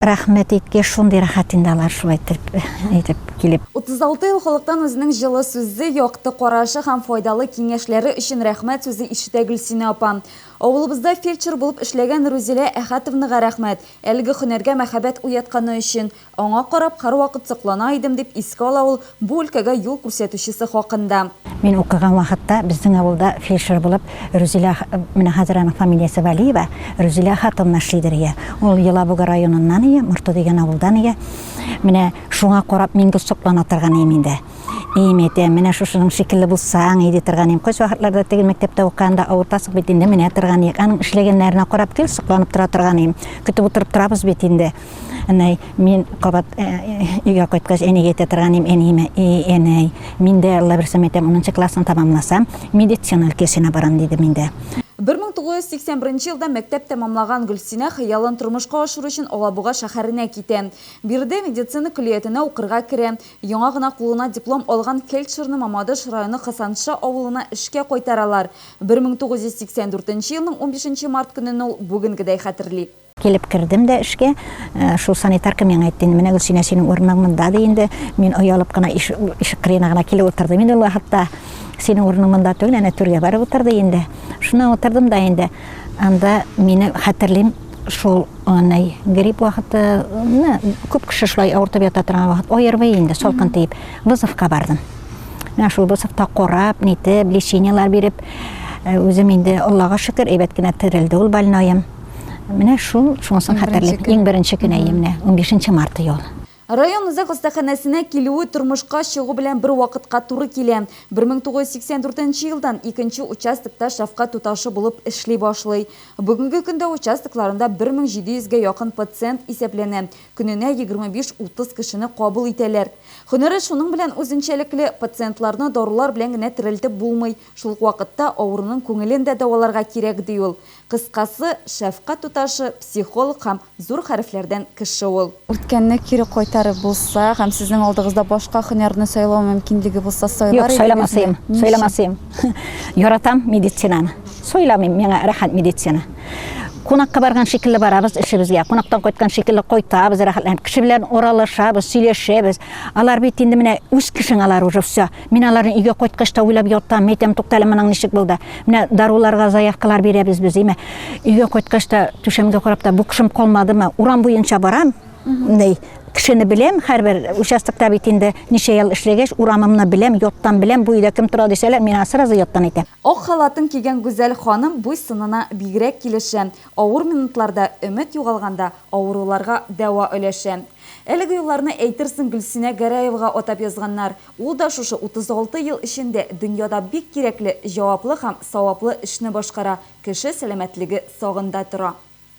Рәхмәт итке шундый рәхәт инде алар шулай телп итеп килеп. 36 ел халыктан үзенең җылы сүзе, якты карашы һәм файдалы киңәшләре өчен рәхмәт сүзе ишетә Гөлсинә апа. Авылыбызда фельдшер булып эшләгән Рузилә Әхәтовнага рәхмәт, әлеге һөнәргә мәхәббәт уятканы өчен. Аңа карап, һәрвакыт соклана идем, дип искә ала ул Бу өлкәгә юл күрсәтүчесе хакында. Мин укыган вакытта безнең авылда фельдшер булып Рүзилә, менә хәзер аның фамилиясе Вәлиева, Рүзилә хатынны эшлидер ия. Ул Елабуга районыннан ия, Морты дигән авылдан ия. Менә шуңа карап мин дә соклана торган ием инде. Ием, әйтәм, менә шушының шикелле булсаң ие ди торган ием. Кайсвакытларда теге мәктәптә укыганда авыртасың бит инде, менә торган иек. Аның эшләгәннәренә карап гел сокланып тора торган ием. Көтеп утырып торабыз бит инде. Әнәй, мин кабат э, э, өйгә кайткач әнигә әйтә торган идем, әниемә, "Эй, әнәй, мин дә Алла берсем әйтәм, 10 классны тәмамласам, медицина өлкәсенә барам", диде миндә. 1981 елда мәктәп тәмамлаган Гөлсинә хыялын тормышка ашыру өчен Алабуга шәһәренә китә. Биредә медицина көллиятенә укырга керә. Яңа гына кулына диплом алган фельдшерны Мамадыш районы Хасанша авылына эшкә кайтаралар. 1984 елның 15 март көнен ул бүгенгедәй хәтерли. Килеп кердем дә эшкә, э, шул санитарка миңа әйтте, менә Гөлсинә синең урының монда ди инде. Мин оялып кына ишек кырыена гына килеп утырдым инде ул вакытта. Синең урының монда түгел, әнә түргә барып утыр ди инде. Шуннан утырдым да инде. Анда мине хәтерлим, шул анай грипп вакыты, күп кеше шулай авыртып ята торган вакыт, ОРВИ инде, салкын тиеп, вызовка бардым. Менә шул вызовта корап, нитеп, лечениелар биреп, э, үзем инде Аллага шөкер, әйбәт кенә терелде ул больноем. Менә шул, шунысын хәтерлим. Иң беренче көн әйе менә, 15 март ел. Район үзәк хастаханәсенә килүе тормышка чыгу белән бер вакытка туры килә. 1984 нче елдан икенче участокта шәфкать туташы булып эшли башлый. Бүгенге көндә участокларында 1700 гә якын пациент исәпләнә, көненә 25-30 кешене кабул итәләр. Һөнәре шуның белән үзенчәлекле, пациентларны дарулар белән генә терелтеп булмый, Шул ук вакытта авыруның күңелен дә дәваларга кирәк, ди ул. Кыскасы, шәфкать туташы, психолог һәм зур хәрефләрдән кеше ул. Үткәнне кире кайтарып булса һәм сезнең алдыгызда башка һөнәрне сайлау мөмкинлеге булса, сайлар идегезме? Юк, сайламас идем. Ни өчен? Сайламас идем. Яратам медицинаны. Сайламыйм, миңа рәхәт медицина. Кунакка барган шикелле барабыз эшебезгә, кунактан кайткан шикелле кайтабыз рәхәтләнеп. Кеше белән аралашабыз, сөйләшәбез. Алар бит инде менә үз кешең алар уже, всё. Мин аларны өйгә кайткач та уйлап ятам, әйтәм, тукта әле моның ничек булды. Менә даруларга заявкалар бирәбез без, әйме. Өйгә кайткач та түшәмгә карап та бу кышым калмадымы? Урам буенча барам. Ней, кешене беләм, һәрбер участокта бит инде ничә ел эшләгәч, урамымны беләм, яттан беләм, бу өйдә кем тора дисәләр, мин аңа сразу яттан әйтәм. Ак халатын кигән Гүзәл ханым буй-сынына бигрәк килешә, авыр минутларда, өмет югалганда авыруларга дәва өләшә. Әлеге юлларны әйтерсең Гөлсинә Гәрәевага атап язганнар. Ул да шушы 36 ел эчендә дөньяда бик кирәкле, җаваплы һәм саваплы эшне башкара, кеше сәламәтлеге сагында тора.